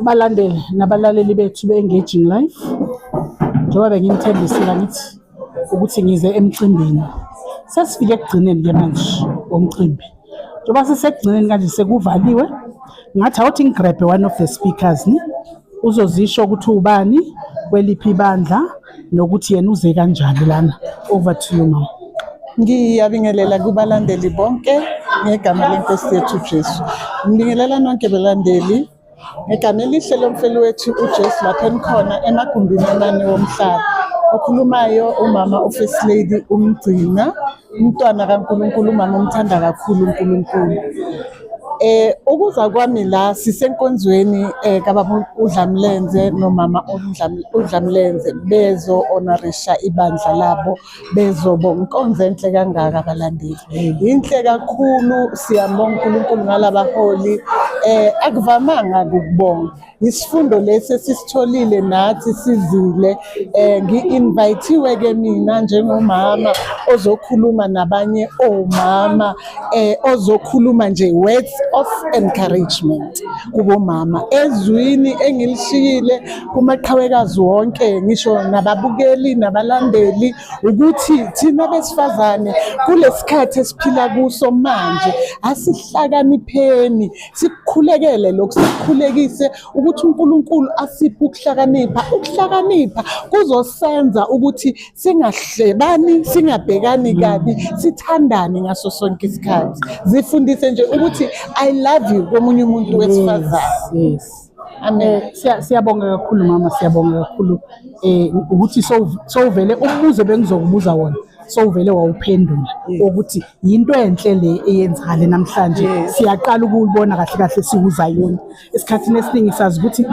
balandeli nabalaleli bethu be-engaging life njengoba benginithembisile ngithi ukuthi ngize emcimbini sesifike ekugcineni-ke manje womcimbi njengoba sisekugcineni kanje sekuvaliwe ngathi awuthi ngigrabhe one of the speakers ni uzozisho ukuthi ubani kweliphi ibandla nokuthi yena uze kanjani lana over to you mama ngiyabingelela kubalandeli bonke ngegama lenkosi yethu jesu ngibingelela nonke belandeli ngegama elihle lomfeli wethu ujesu lapho enikhona emagumbini amane womhlaba okhulumayo umama ufirst lady umgcina Umntwana kaNkulunkulu umama umthanda kakhulu uNkulunkulu. Eh ukuza kwami la sisenkonzweni eh kababa uDlamlenze nomama uDlamlenze bezo honorisha ibandla labo bezobo inkonzo enhle kangaka abalandeli. Inhle kakhulu siyabonga uNkulunkulu ngalabaholi eh akuvamanga ukubonga. isifundo lesi esisitholile nathi sizile um ngi-invayithiwe-ke mina njengomama ozokhuluma nabanye omama um ozokhuluma nje words of encouragement kubomama ezwini engilishiyile kumaqhawekazi wonke ngisho nababukeli nabalandeli ukuthi thina besifazane kulesi khathi esiphila kuso manje asihlakanipheni sikukhulekele lokhu sikukhulekise ukuthi uNkulunkulu asiphe ukuhlakanipha ukuhlakanipha kuzosenza ukuthi singahlebani singabhekani kabi sithandane ngaso sonke isikhathi zifundise nje ukuthi i love you komunye umuntu wesifazane yes, yes. Amen. Eh, siyabonga kakhulu mama, siyabonga kakhulu eh ukuthi sowuvele umbuzo bengizokubuza wona sowuvele wawuphendula ukuthi yinto enhle le eyenzakale namhlanje siyaqala ukubona kahle kahle siwuzayoni esikhathini esiningi sazi ukuthi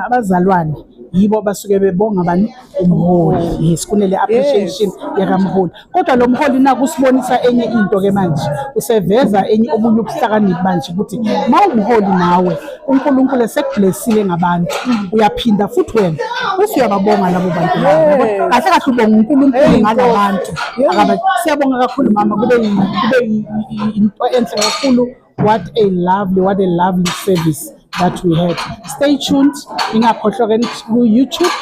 abazalwane yibo basuke bebonga bani umholi yes kunele appreciation yakamholi Kodwa lo mholi naku usibonisa enye into ke manje, useveza enye obunye ubuhlakaniphi manje ukuthi mawumholi nawe uNkulunkulu esekublessile ngabantu uyaphinda futhi wena uthi uyababonga labo bantu labo. Yes. Kahle kahle ubonga uNkulunkulu Hey, ngala Nkosi. bantu. Yes. Akaba- Siyabonga kakhulu mama kube yi- kube yi- yi- into enhle kakhulu what a lovely what a lovely service that we had stay tuned ingakhohlwa ke ku YouTube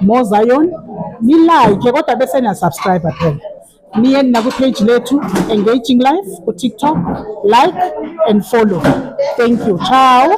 Mo Zion ni like kodwa bese na subscribe phela niye na ku page lethu engaging life ku TikTok like and follow thank you ciao